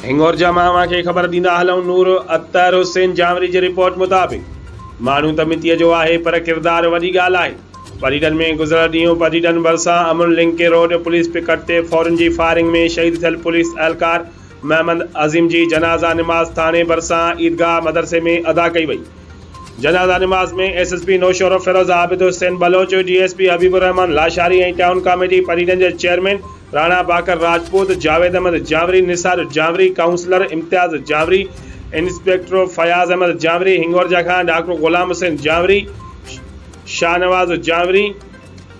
هنڱور جا ماڻهو اوهان کي خبر ڏيندا هلون نور اطهر حسين جانوري جي رپورٽ مطابق ماڻهو ته مٽيء جو آهي پر ڪردار وڏي ڳالهه آهي پريڊن ۾ گذريل ڏينهن پريڊن ڀرسان Aman link road police picket تي ڦورن جي فائرنگ ۾ شهيد ٿيل پوليس اهلڪار محمد عظيم جي جنازه نماز ٿاڻي ڀرسان عيدگاهه مدرسي ۾ ادا ڪئي وئي جنازه نماز ۾ S S P Naushahro Feroze Abid Hussain Baloch D S P Habib الرحمان لاشاري ۽ ٽائون ڪاميٽي پريڊن جي chairman Rana Baqir Rajput, Javed Ahmed Janwari, Nisar Janwari, councillor Imtiaz Janwari, inspector Fayaz Ahmed Janwari, Hingorja کان ڊاڪٽر غلام حسين جانوري، شاهنواز جانوري،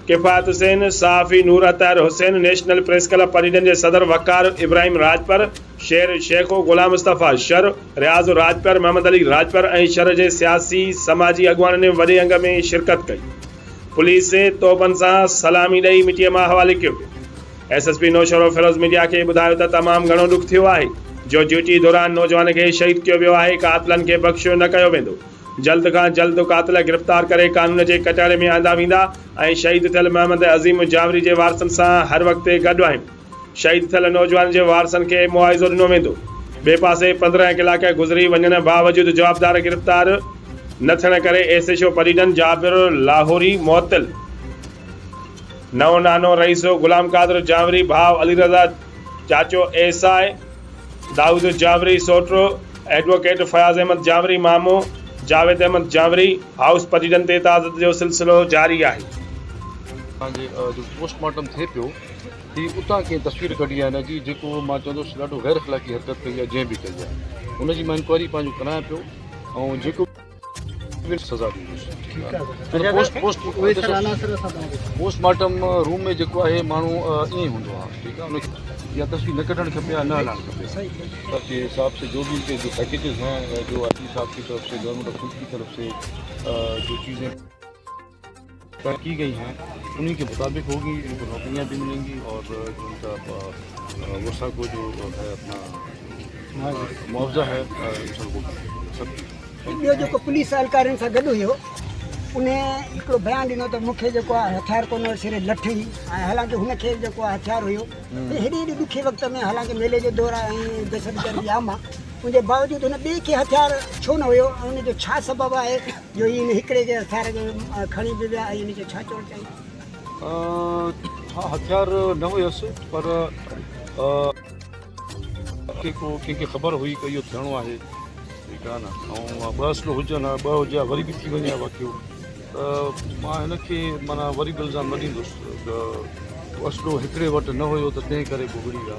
ڪفايت حسين، صحافي Noor Athar Hussain, national press club پريڊن جي صدر وقار ابراهيم راڄپر، شير شيخو، غلام مصطفيٰ شر، رياض راڄپر، محمد علي راڄپر ۽ شھر جي سياسي سماجي اڳواڻن وڏي انگ ۾ شرڪت ڪئي. پوليس توبن سان سلامي ڏئي مٽيء مان حوالي ڪيو. S S P Naushahro Feroze media کي ٻڌايو ته تمام گهڻو ڏک ٿيو آهي جو ڊيوٽي دوران نوجوان کي شهيد ڪيو ويو آهي، قاتلن کي بخشيو نه ڪيو ويندو، جلد کان جلد قاتل گرفتار ڪري قانون جي ڪٽهڙي ۾ آندا ويندا ۽ شهيد ٿيل محمد عظيم جاوري جي وارثن سان هر وقت گڏ آهيون. شهيد ٿيل نوجوان جي وارثن کي معاوضو ڏنو ويندو، ٻئي پاسي پندرهن ڪلاڪ گذري وڃڻ باوجود جوابدار گرفتار نه ٿيڻ ڪري ايس ايڇ او پريڊن جابر لاهوري معطل، نئون نانو رئيس غلام قادر جانوري ڀاء علي رضا چاچو ايس آء دائود جانوري سوٽو ايڊووڪيٽ فياض احمد جانوري مامو جاويد احمد جانوري هائوس پريڊن تي تعزت جو سلسلو جاري آهي. جي جو پوسٽ مارٽم ٿئي پيو. هي اتان ڪنهن تصوير ڪڍي آهي نه جي جيڪو مان چوندس ڏاڍو غير اخلاقي حرڪت ڪئي آهي جنهن به ڪئي آهي ان جي مان انڪوائري پنهنجو ڪرايان پيو ۽ جيڪو به سزا ڏيندس پوسٽ مارٽم روم ۾ جيڪو آهي ماڻهو ائين ئي هوندو آهي ٺيڪ آهي ان تصوير نه ڪڍڻ کپي يا نه هلائڻ کپي باقي حساب سي جو به ان کي جو پيڪيجز هين جو آر ٽي صاحب جي طرف سي گورنمنٽ آف سنڌ جي طرف سي جو چيزين طے ڪي گئي هين انهي ڪي مطابق هوگي ان ڪو نوڪريان بي ملين گي اور جو ان ڪا وسا ڪو جو هي اپنا معاوضا هي سب هوگي سب ڪي هي ٻيو جيڪو پوليس اهلڪارين سان گڏ هيو انهي هڪڙو بيان ڏنو ته مون کي جيڪو آهي هٿيار ڪونه هيو صرف لٺ هئي ۽ حالانڪه هن کي جيڪو آهي هٿيار هيو هيڏي هيڏي ڏکي وقت ۾ حالانڪه ميلي جو دور آهي ۽ دهشتگردي عام آهي ان جي باوجود هن ٻئي کي هٿيار ڇو نه هيو ۽ ان جو ڇا سبب آهي جو هي ان هڪڙي کي هٿيار کي کڻي به ويا ۽ ان جو ڇا چوڻ چاهيندو؟ ها هٿيار نه هيس پر ڪي ڪو ڪنهن کي خبر هئي ته اهو ٿيڻو آهي ٺيڪ آهي نه ۽ ٻه اصل هجن ها ٻه هجي ها وري به ٿي وڃي ها واقعو ته مان هن کي معنيٰ وري به الزام نه ڏيندس ته اصل هڪڙي وٽ نه هيو ته تنهن ڪري بگڙي ويا